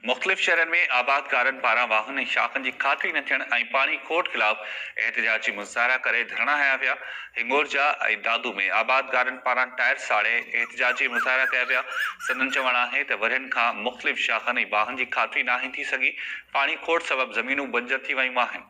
مختلف شهرن ۾ آبادگارن پاران واهن ۽ شاخن جي کاتري نه ٿيڻ ۽ پاڻي کوٽ خلاف احتجاجي مظاهرا ڪري ڌرڻا هنيا ويا، هنڱورجا ۽ دادو ۾ آبادگارن پاران ٽائر ساڙي احتجاجي مظاهرا ڪيا ويا، سندن چوڻ آهي ته ورهين کان مختلف شاخن ۽ واهن جي کاتري ناهي ٿي سگهي، پاڻي کوٽ سبب زمينون بنجر ٿي ويون آهن.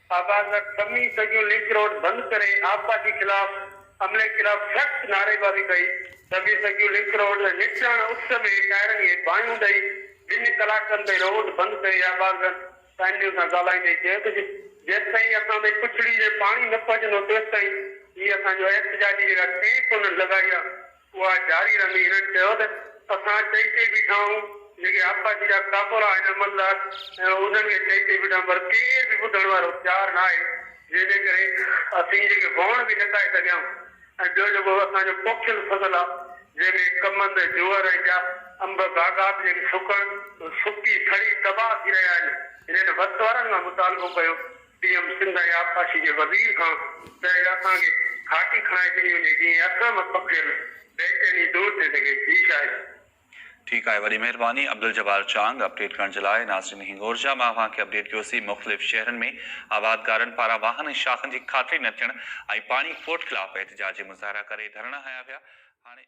آبازڪ، سمي سڳيون لنڪ روڊ بند ڪري آپ پارٽي خلاف عملي خلاف سخت نعريبازي ڪئي، سمي سڳيون لنڪ روڊ تي نٽراڻ اس ۾ ٽائرن کي باهيون ڏئي ٻن ڪلاڪن تائين روڊ بند ڪئي، آبازڪ سائن نيوز سان ڳالهائيندي چيو ته جيستائين اسان تائين پڇڙي جي پاڻي نه پهچندو تيستائين هي اسان جو احتجاجي جيڪا ٽينٽ انهن لڳائي آهي. اها جاري رهندي هنن چيو ته اسان چئي چئي بيٺا آهيون جيڪي آبپاشي جا ڪاڪوڙا آهن عملدار انهن کي چئي چئي بيٺا آهيون پر ڪير به ٻڌڻ وارو تيار نه آهي جنهن جي ڪري اسين جيڪي وهڻ به نه ڪاهي سگهيا آهيون ۽ ٻيو جيڪو اسان جو پوکيل فصل آهي جنهن ۾ ڪمند، جوئر ۽ ٻيا انب باغات جيڪي سڪڻ سڪي سڙي تباهه ٿي رهيا آهن هنن وس وارن کان مطالبو ڪيو پي ايم سنڌ ۽ آبپاشي جي وزير کان چيائين اسان کي گهاٽي کڻائي ڏني وڃي جيئن اسان ۾ پکڙيل بيچيني دور ٿي سگهي جي شايد. ٺيڪ آهي وڏي مهرباني عبدالجبار چانگ اپڊيٽ ڪرڻ جي لاء ناصرين هنگورجا مان اوهان کي اپڊيٽ ڪيوسي مختلف شهرن ۾ آبادگارن پاران واهن ۽ شاخن جي کاتري نه ٿيڻ ۽ پاڻي کوٽ خلاف احتجاجي مظاهرا ڪري ڌرڻا هنيا ويا هاڻي